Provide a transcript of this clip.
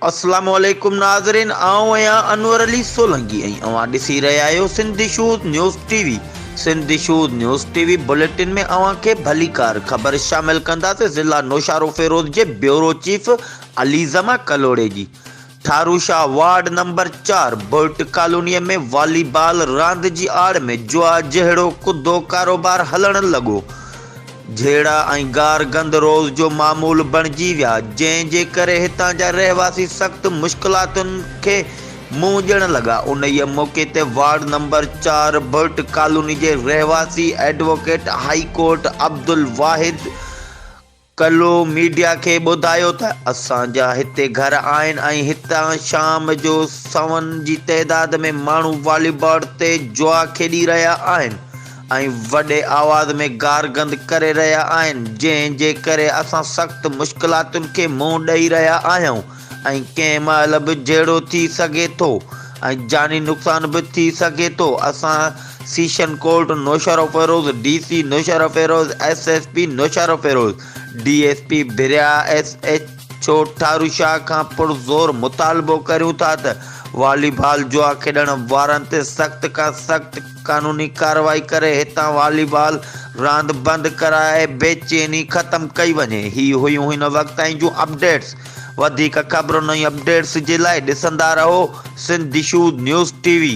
السلام عليڪم ناظرين آئون آهيان انور علي سولنگي ۽ اوهان ڏسي رهيا آهيو Sindh shows news T V Sindh shows news T V bulletin ۾ اوهان کي ڀليڪار خبر شامل ڪنداسين ضلع نوشارو فيروز جي بيورو چيف علي زما ڪلهوڙي جي ٺاروشاهه وارڊ نمبر چار برٽ ڪالونيء ۾ والي بال راند جي آڙ ۾ جوا جهڙو ڪڌو ڪاروبار هلڻ لڳو. جهيڙا ۽ گار گند روز جو معمول بڻجي ويا، جنهن جي ڪري هتان جا رهواسي سخت مشڪلاتن کي منهن ڏيڻ لڳا. انهيء موقعي تي وارڊ نمبر چار برٽ ڪالوني جي رهواسي ايڊووڪيٽ هائي ڪورٽ عبدالواحد، ڪلو ميڊيا کي ٻڌايو ته اسان جا هتي گهر آهن ۽ هتان شام جو سون جي تعداد ۾ ماڻهو والي بارڊ تي جوا کيڏي رهيا آهن ۽ وڏي آواز ۾ گار گند ڪري رهيا آهن جنهن جي ڪري اسان سخت مشڪلاتن کي منهن ڏئي رهيا آهيون ۽ ڪنهن مهل به جهيڙو ٿي سگهي ٿو ۽ جاني نقصان به ٿي سگهي ٿو، اسان session court Naushahro Feroze, D C Naushahro Feroze, S S P Naushahro Feroze, D S P Bhiria, S H O Tharushah کان پرزور مطالبو ڪريون ٿا ته والي بال جوا کيڏڻ وارن تي سخت کان سخت قانوني ڪارروائي ڪري هتان والي بال راند بند ڪرائي بي چيني ختم ڪئي وڃي. هي هيون هن وقت تائين جون اپڊيٽس. وڌيڪ خبرن ۽ اپڊيٽس جي لاء ڏسندا رهو سنڌ دشود نيوز ٽي وي.